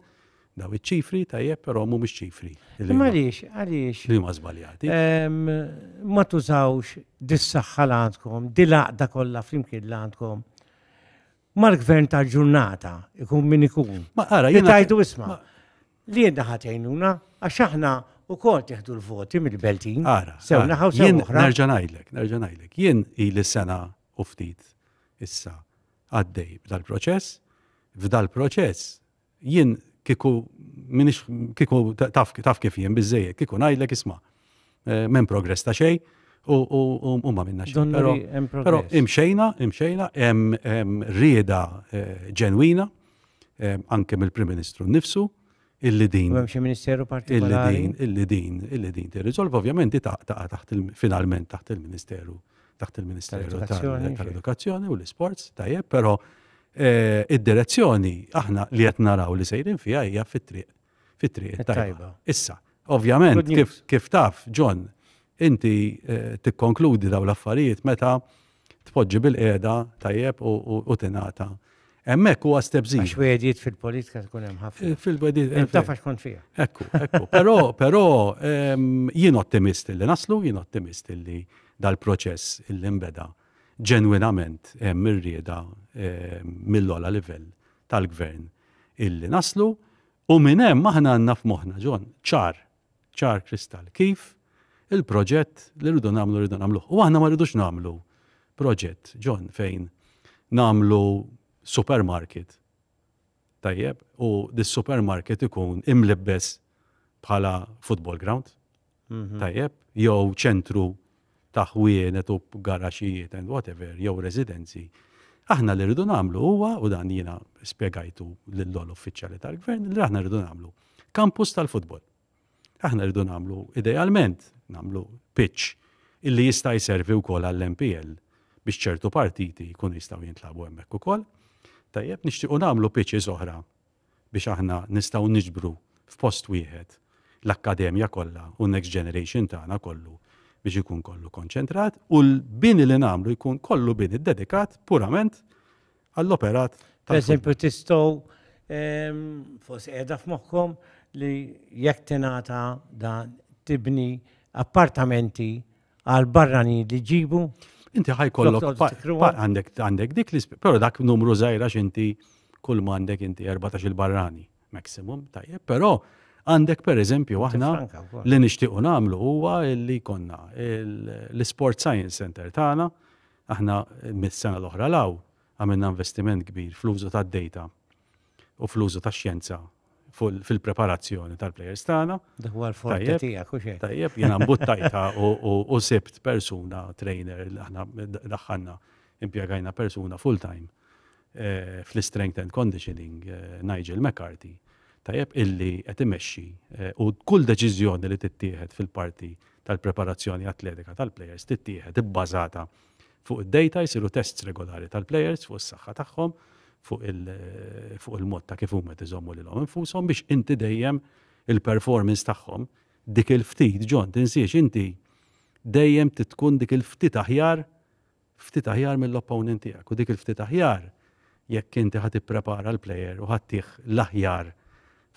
Daw iċ-ċifri tajjeb però mhumiex ċifri. Għaliex, għaliex. Li ma żbaljati. Ma tużawx dis-saħħa l għandkom, dil-għaqda kollha flimkien l għandkom. Mal-gvern tal-ġurnata, ikun min ikun. Ma ara, jien. Tajdu isma. Li jenna ħatejnuna, għax aħna u kol teħdu l-voti mill-beltin. Ara. Sew naħaw sew. Jien nerġanajlek, nerġanajlek. Jien il sena u ftit issa għaddej b'dal-proċess, f'dal-proċess Jien kieku m'iniex kieku taf kif jien biżżejjed, kieku ngħidlek isma' m'hemm progress ta' xejn u ma minna xejn. Però imxejna, imxejna, hemm rieda eh, ġenwina, eh, anke mill-Prim Ministru nnifsu, illi din. Hemm xi ministeru partikolari. Illi din, illi din, illi din tirriżolv, ovvjament ta' taħt finalment taħt il-Ministeru taħt il-Ministeru tal-Edukazzjoni u l-Isports, tajjeb, però eh, id-direzzjoni aħna li qed naraw li sejrin fiha hija fit-triq fit-triq tajba. Issa, ovvjament, kif, kif taf, John, inti eh, tikkonkludi daw l-affarijiet meta tpoġġi bil-qeda tajjeb u, u, u tinata Hemmhekk huwa step zero. Għax wedjiet fil-politika tkun hemm ħafna. Eh, fil-wedjiet. Eh, taf għax kont fija. Ekku, ekku. Però, però ehm, jien ottimist li naslu, jien ottimist li dal-proċess illi nbeda ġenwinament hemm eh, irrieda ehm, mill-ola livell tal-gvern illi naslu u minn hemm aħna għandna f'moħħna ġon ċar ċar kristall kif il-proġett li rridu nagħmlu rridu nagħmluh. U aħna ma rridux nagħmlu proġett, John, fejn nagħmlu supermarket. Tajjeb, u dis-supermarket ikun imlibbes bħala football ground. Mhm. Tajjeb, jew ċentru ta' ħwienet u garaxxijiet and whatever jew residenzi, aħna li rridu nagħmlu huwa, u dan jiena spjegajtu lill-ogħla uffiċjali tal-Gvern, li aħna rridu nagħmlu kampus tal-futbol. Aħna rridu nagħmlu idealment nagħmlu pitch illi jista' jservi wkoll għall-MPL biex ċertu partiti jkunu jistgħu jintlabu hemmhekk ukoll. Tajjeb, nixtiequ nagħmlu pitches oħra biex aħna nistgħu niġbru f'post wieħed l-akkademja kollha u n-next generation tagħna kollu biex ikun kollu konċentrat u l-bini li nagħmlu jkun kollu bini dedikat purament għall-operat. Per eżempju, tistgħu ehm, forsi qiegħda f'moħħkom li jekk tingħata dan tibni appartamenti għal barrani li ġibu. Inti ħajkollok għandek għandek dik li però dak numru żgħira x'inti kull ma għandek inti 14 il-barrani maximum tajjeb, però għandek per eżempju aħna li nixtiequ nagħmlu huwa li konna l-Sport Science Center tagħna aħna mis-sena l-oħra law għamilna investiment kbir fl-użu tad-data u fl-użu tax-xjenza fil-preparazzjoni tal-plejers tagħna. Dak huwa l-forti tiegħek u xejn. Tajjeb, jiena mbuttajta u sibt persuna trainer li aħna daħħalna impjegajna persuna full time eh, fl-strength and conditioning eh, Nigel McCarthy. Tajjeb illi qed imexxi eh, u kull deċiżjoni li tittieħed fil-parti tal-preparazzjoni atletika tal-plejers tittieħed ibbażata Fuq id-data jsiru tests regolari tal-plejers fuq is-saħħa tagħhom, fuq il-mod ta' kif huma tiżommu lilhom infushom biex inti dejjem il-performance tagħhom dik il-ftit ġon tinsiex inti dejjem titkun dik il-ftit aħjar ftit aħjar mill-opponent tiegħek u dik il-ftit aħjar jekk inti ħad ipprepara l-plejer u ħattih l-aħjar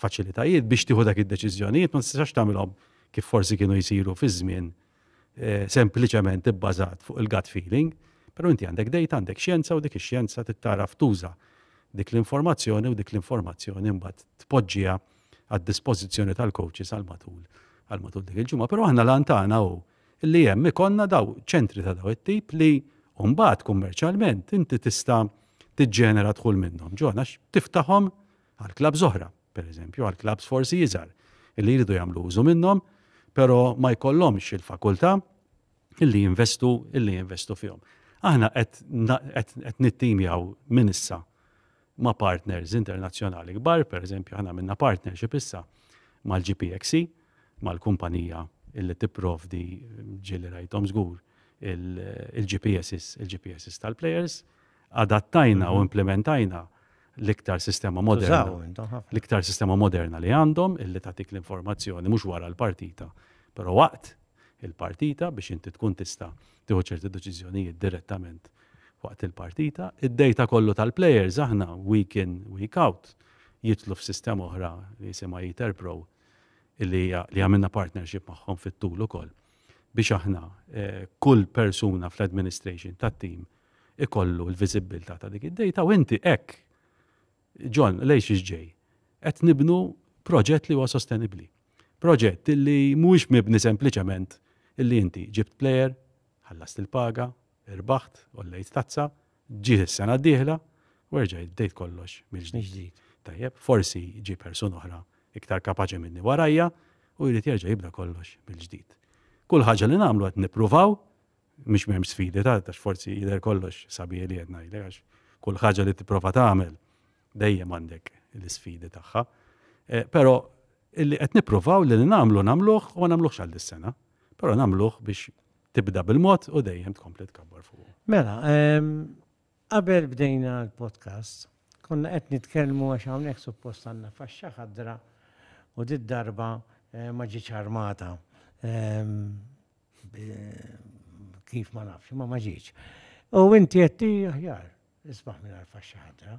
faċilitajiet biex tieħu dak id-deċiżjonijiet ma tistax tagħmilhom kif forsi kienu jsiru fi żmien eh, sempliċement ibbażat fuq il-gut feeling, però inti għandek dejta, għandek xjenza u dik ix-xjenza tittaraf tuża dik l-informazzjoni u dik l-informazzjoni mbagħad tpoġġiha għad-dispożizzjoni tal-coaches għal matul għal matul dik il-ġimgħa. Però aħna lantana u li hemm ikonna daw ċentri ta' daw it-tip li mbagħad kummerċjalment inti tista' tiġġenera dħul minnhom. Ġona tiftaħhom għal klab zoħra. pereżempju għal klabbs forsi iżgħar li jridu jagħmlu użu minnhom, però ma jkollhomx il-fakultà illi jinvestu illi jinvestu fihom. Aħna qed nittimjaw minn issa ma' partners internazzjonali kbar, per eżempju aħna minna partnership issa mal-GPXC, mal-kumpanija illi tipprovdi ġieli rajtom żgur il-GPSs, il-GPSs tal-players, adattajna u implementajna l-iktar sistema moderna. Tużaw intom ħafna. L-iktar sistema moderna li għandhom illi tagħtik l-informazzjoni mhux wara l-partita, però waqt il-partita biex inti tkun tista' tieħu ċerti deċiżjonijiet direttament waqt il-partita. Id-dejta kollu tal-players aħna week in, week out jitlu f'sistema oħra li jisimha Eater Pro illi hija- li għamilna partnership magħhom fit-tul ukoll biex aħna eh, kull persuna fl-administration tat-tim ikollu l-viżibbiltà ta' dik id-dejta u inti hekk John, lejx ġej, qed nibnu proġett li huwa sostenibbli. Proġett li mhuwiex mibni sempliċement illi inti ġibt plejer, ħallast il-paga, irbaħt, ollejt tazza, ġiet is-sena d-dieħla, u erġajt bdejt kollox mill-ġdid. Tajjeb, forsi ġie persuna oħra iktar kapaċi minni warajja u jrid jerġa' jibda kollox mill-ġdid. Kull ħaġa li nagħmlu qed nippruvaw Mhux m'hemmx sfidi ta' għax forsi jidher kollox sabiħ li qed ngħidlek għax kull ħaġa li tipprova tagħmel dejjem għandek l-isfidi tagħha. Eh, però illi qed nippruvaw li nagħmlu nagħmluh u ma nagħmluhx għal dis-sena, però nagħmluh biex tibda bil-mod u dejjem tkompli tkabbar fuq. Mela, ehm, Qabel bdejna l-podcast, konna qed nitkellmu għax hawnhekk suppost għandna faxxa ħadra u did-darba ma ġietx armata. Kif ma nafx, imma ma ġietx. U inti qed aħjar, isbaħ mingħajr faxxa ħadra.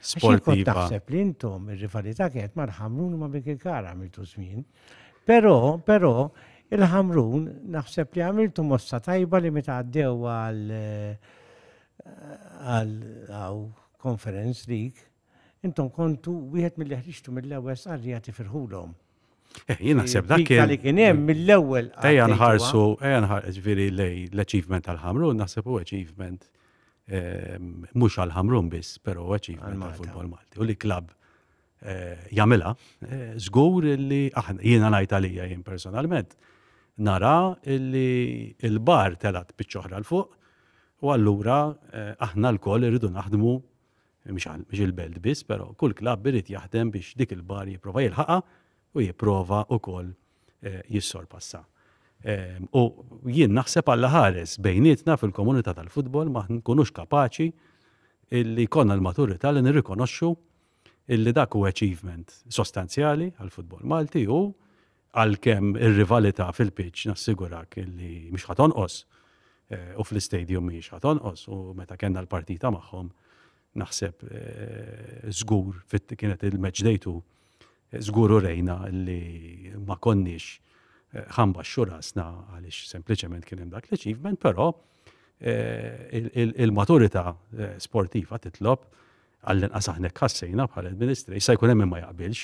sportiva. Taħseb li intom ir-rivalità kienet mal-ħamrun ma' bik il-kara għamiltu żmien. Però, però, il-ħamrun naħseb li għamiltu mossa tajba li meta għaddew għal għal conference league, intom kontu wieħed mill-li ħriġtu mill-ewwel sarri għati firħulhom. Eh, jien naħseb dak kien. li kien hemm mill-ewwel. Ejja nħarsu, ejja nħarsu, ġifieri lej l-achievement tal-Ħamrun naħseb u achievement ehm, mhux għal-Ħamrun biss, però achievement tal-futbol Malti. U li klabb eh, jagħmilha, eh, żgur li aħna jiena ngħid għalija jien personalment nara li l-bar telat biċċoħra l-fuq u allura eh, aħna l-koll irridu naħdmu mhux il-belt biss, però kull klabb irid jaħdem biex dik il-bar jipprova jilħaqha u jipprova wkoll eh, jissorpassa. Ehm, u jien naħseb għalla ħares bejnietna fil-komunità tal-futbol ma nkunux kapaċi illi konna l-maturità li nirrikonoxxu illi dak u achievement sostanzjali għal-futbol Malti u Għalkemm ir-rivalità fil-pitch nassigurak li mhix ħa tonqos u fl-istadium mhijiex ħa tonqos u meta kellna l-partita magħhom naħseb żgur kienet il-match day two żgur urejna li ma konniex ħa nbaxxu rasna għaliex sempliċement kien hemm dak l-achievement, però il-maturità sportiva titlob Għall-inqas aħna hekk ħassejna bħala l-Ministri. Issa jkun hemm min ma jaqbilx,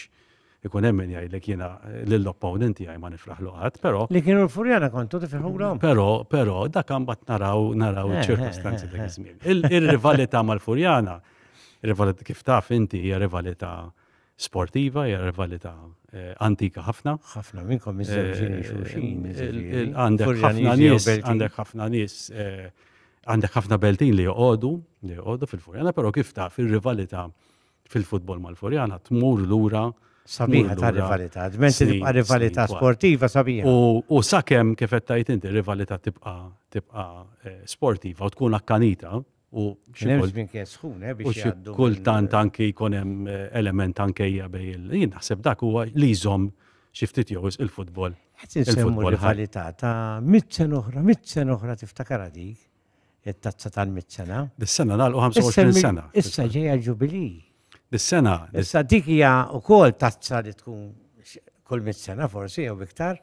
ikun hemm min jgħidlek jiena lill-opponent tiegħi ma nifraħlu qatt, però. Li kienu l-furjana kontu tifirħulhom. Però, però, dak mbagħad naraw naraw eh, ċirkostanzi eh, dak eh. iż-żmien. Ir-rivalità mal-furjana, kif taf inti hija rivalità sportiva, hija rivalità eh, antika ħafna. ħafna minnkom eh, iżżewġini xulxin. Eh, għandek ħafna nies, għandek ħafna nies, għandek ħafna beltin li joqogħdu, li joqogħdu fil-Furjana, però kif ta' fil-rivalità fil-futbol mal-Furjana tmur lura sabiħa ta' rivalità, dment tibqa' rivalità sportiva sabiħa. U sakemm kif qed tajt inti rivalità tibqa' tibqa' sportiva u tkun akkanita, U xi kien sħun, eh, biex jgħaddu. Kultant anki jkun hemm eh, element ankejja bej il. Jien naħseb dak huwa li jżomm xi ftit jew il-futbol. Il-futbol rivalità ta' mit-sen oħra, mit-sen oħra tiftakara dik it-tazza tal-mit-sena. Dis-sena nagħlqu 25 sena. Issa ġejja ġubili. Bis-sena. Issa dik hija wkoll tazza li tkun kull mit-sena forsi jew iktar.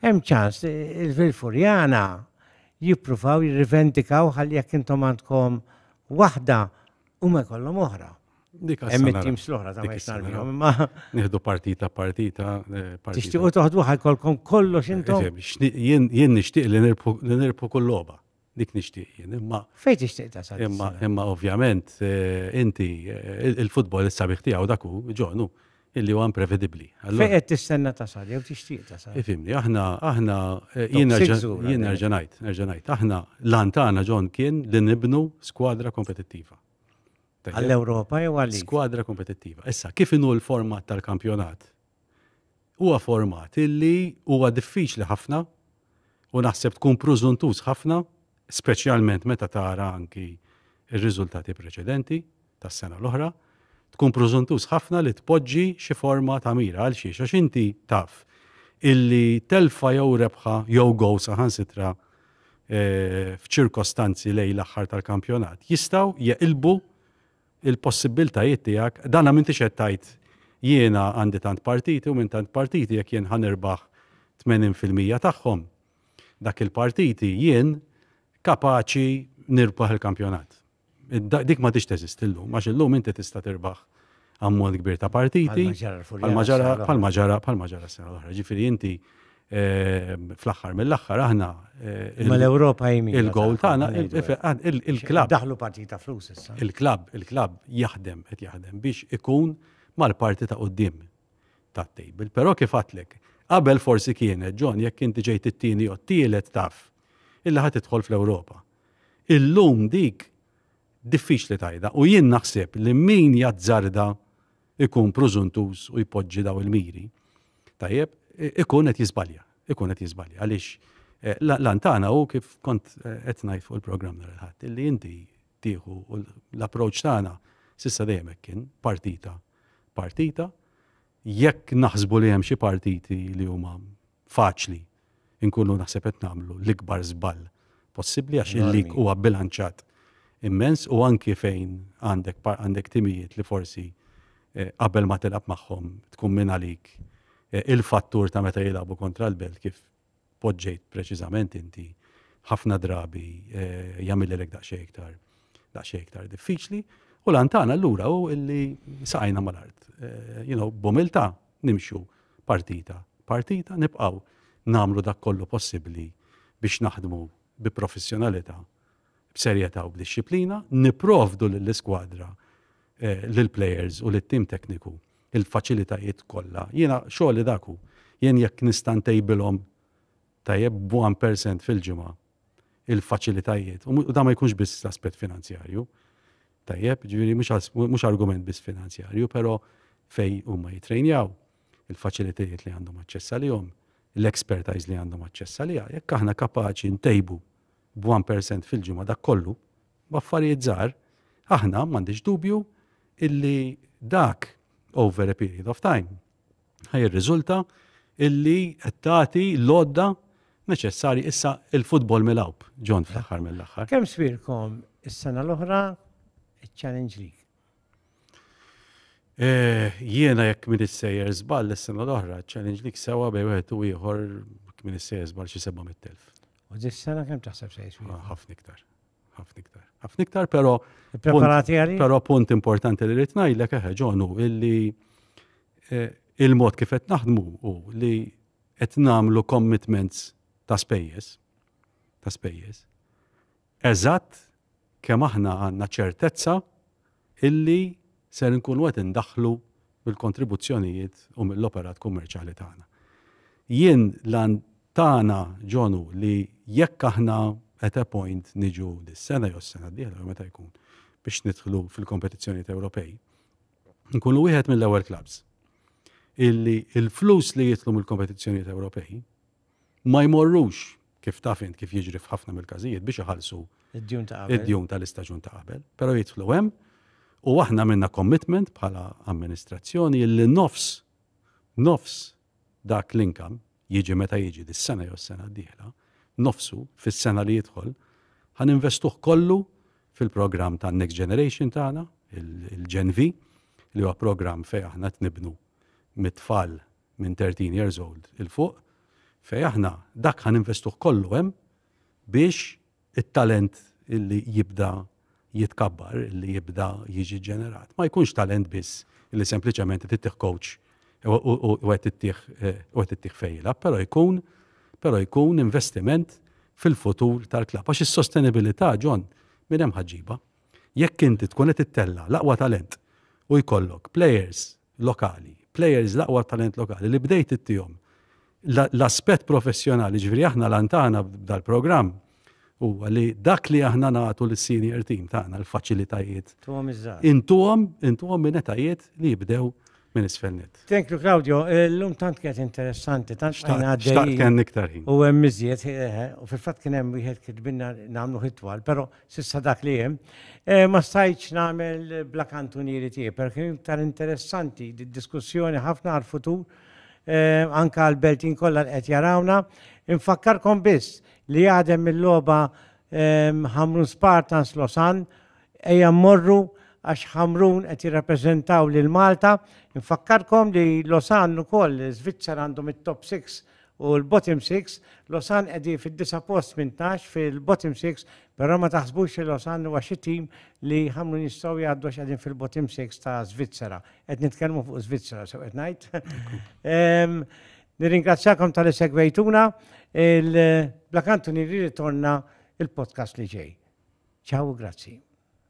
Hemm ċans il-Vilfurjana jippruvaw jirrivendikaw ħalli jekk intom għandkom waħda u ma jkollhom oħra. Hemm it-teams l-oħra ta' ma Nieħdu partita partita. Eh, Tixtiequ toħdu ħajkolkom kollox intom. Jien nixtieq li nirpu kull logħba. dik nixtieq jien. Imma fejn tixtieq tasal? Imma imma ovvjament eh, inti eh, il-futbol is-sabiħ tiegħu dak hu ġonu illi huwa imprevedibbli. Fejn qed tistenna tasal jew tixtieq tasal? Ifimni, aħna aħna eh, jien nerġa' ngħid, nerġa' ngħid, aħna lantana ġon kien li nibnu skwadra kompetittiva. Għall-Ewropa jew għal Skwadra kompetittiva. Issa, kif inhu l-format tal-kampjonat? huwa format illi huwa diffiċli ħafna u naħseb tkun prużuntuż ħafna, speċjalment meta tara anki r-riżultati preċedenti tas-sena l-oħra, tkun prużuntuż ħafna li tpoġġi xi forma ta' mira. Għalxiex? Għax inti taf illi telfa jew rebħa jew gow saħansitra eh, f'ċirkostanzi lejn l-aħħar tal-kampjonat jistgħu jeqilbu il-possibbiltajiet tiegħek, dana m'intix qed tgħid jiena għandi tant partiti u minn tant partiti jekk jien ħa nirbaħ 80 fil-mija tagħhom, dak il-partiti jien kapaċi nirbaħ il-kampjonat. Dik ma tix teżisti llum, għax illum inti tista' tirbaħ ammont kbir ta' partiti. Pal-maġara, pal-maġara, pal-maġara s-sena l-oħra. Ġifieri inti fl-aħħar mill-aħħar aħna ma l-Ewropa jmin. Il-gowl tagħna il-klabb. Daħlu partita flus issa. Il-klabb, il-klabb jaħdem qed jaħdem biex ikun mal-parti ta' qudiem tat-tejbil. Però kif għatlek, qabel forsi kienet ġon jekk inti ġejt it-tieni u t-tielet taf illi ħad tidħol fl-Ewropa. Illum dik diffiċli tajda u jien naħseb li min jazzarda ikun prużuntuż u jpoġġi daw il-miri, tajjeb, ikun qed jiżbalja, ikun qed jiżbalja għaliex eh, l-antana u kif kont eh, qed ngħid fuq il-programm nhar il-ħadd li inti tieħu l-approċċ tagħna sissa dejjem kien partita partita jekk naħsbu li hemm xi partiti li huma faċli nkunu naħseb qed nagħmlu l-ikbar żball possibbli għax il-lig huwa bilanċat immens u anki fejn għandek għandek timijiet li forsi eh, qabel ma tilab magħhom tkun minn għalik eh, il-fattur ta' meta jilagħbu kontra l-belt kif poġġejt preċiżament inti ħafna drabi eh, jagħmilek daqsxejn iktar daqsxejn iktar diffiċli u lantana allura u illi saqajna mal-art. You know, bumilta nimxu partita partita, nibqgħu nagħmlu dak kollu possibbli biex naħdmu bi professjonalità, b'serjetà u b'dixxiplina, nipprovdu lill-iskwadra, lill-plejers u lit-tim tekniku l-faċilitajiet kollha. Jiena xogħli dak hu. Jien jekk nista' ntejbilhom tajjeb b'one percent fil-ġimgħa, il-faċilitajiet, u da ma jkunx biss l-aspett finanzjarju. Tajjeb, ġifieri mhux argument biss finanzjarju, però fej huma jitrejnjaw, il-faċilitajiet li għandhom aċċess għalihom, l-expertise li għandhom aċċess għaliha, jekk aħna kapaċi ntejbu b'1% fil-ġimgħa dak kollu, b'affarijiet żgħar, aħna m'għandix dubju illi dak over a period of time ħa jirriżulta illi qed tagħti l-għodda neċessarji issa il-futbol mill-awb, John fl-aħħar mill-aħħar. Kemm sbirkom is-sena l-oħra iċ-Challenge League? Eh, jiena jekk min issejjer żball is-sena l-oħra, ċ-Challenge League sewa bej wieħed u ieħor min issejjer żball xi 700,000. U dis-sena kemm taħseb se jiswi? Ah, ħafna iktar. ħafna iktar. Ħafna iktar, pero. Preparati għalli? Pero punt importanti li rrit ngħidlek eħe ġonu illi eh, il-mod kif qed naħdmu u li qed nagħmlu commitments ta' spejjeż ta' spejjeż. Eżatt kemm aħna għandna ċertezza illi ser inkunu qed indaħħlu mill-kontribuzzjonijiet u mill-operat kummerċjali tagħna. Jien l-għan tagħna John hu li jekk aħna at a point niġu dis-sena jew s-sena d-dieħla jew meta jkun biex nidħlu fil-kompetizzjonijiet Ewropej, nkunu wieħed mill-ewwel clubs illi il-flus li jitlu mill-kompetizzjonijiet Ewropej ma jmorrux kif taf int kif jiġri f'ħafna mill-każijiet biex iħallsu id-djun ta' qabel. Id-djun tal-istaġun ta' qabel. Però jidħlu hemm u aħna minna commitment bħala amministrazzjoni li nofs nofs dak l-inkam jiġi meta jiġi dis-sena jew s-sena d-dieħla, nofsu fis-sena li jidħol, ħan investuh kollu fil-programm ta' Next Generation tagħna, il-Gen V, li huwa programm fejn aħna tnibnu mit-tfal minn 13 years old il fuq fej aħna dak ħa ninvestuh kollu hemm biex it-talent illi jibda jitkabbar, illi jibda jiġi ġenerat. Ma jkunx talent biss illi sempliċement tittih coach u għet tittih fejla, pero jkun pero jkun investiment fil-futur tal-klab. Għax is-sostenibilità ġon minn hemm ħaġiba. Jekk inti tkun qed ittella l-aqwa talent u jkollok players lokali, players l-aqwa talent lokali li bdejt ittihom l-aspett professjonali, ġifieri aħna lantana dal-programm huwa li dak li aħna nagħtu lis-senior team tagħna l-faċilitajiet. Intuhom, intuhom minn etajiet li jibdew minn isfelnet. Thank you Claudio, l-lum tant kienet interessanti, tant xtajna għaddej. Tant kien iktar ħin. U hemm miżjed, eh, eh, u fil-fatt kien hemm wieħed kitbinna nagħmlu hitwal, però S'issa dak li hemm. Eh, ma stajtx nagħmel bla kantunieri tiegħi, per kien iktar interessanti diskussjoni ħafna għal futur eh, anka għal beltin kollha qed jarawna. Infakkarkom biss li għadem mill-logħba ehm, Hamrun Spartans Losan ejja morru għax Hamrun qed jirrappreżentaw lil Malta. Infakkarkom li Losan ukoll Svizzera għandhom it-top 6 U l-bottom 6, Losan qegħdin fid-disa post 18 fil-bottom 6, però ma taħsbux li Losan huwa xi tim li ħamlu jistgħu jgħaddu qegħdin fil-bottom 6 ta' Svizzera. Qed nitkellmu fuq Svizzera sew qed ngħid. Ehm, nirringrazzjakom tal segwejtuna il-Blakantu nirritorna il-podcast li ġej. Ciao, grazzi.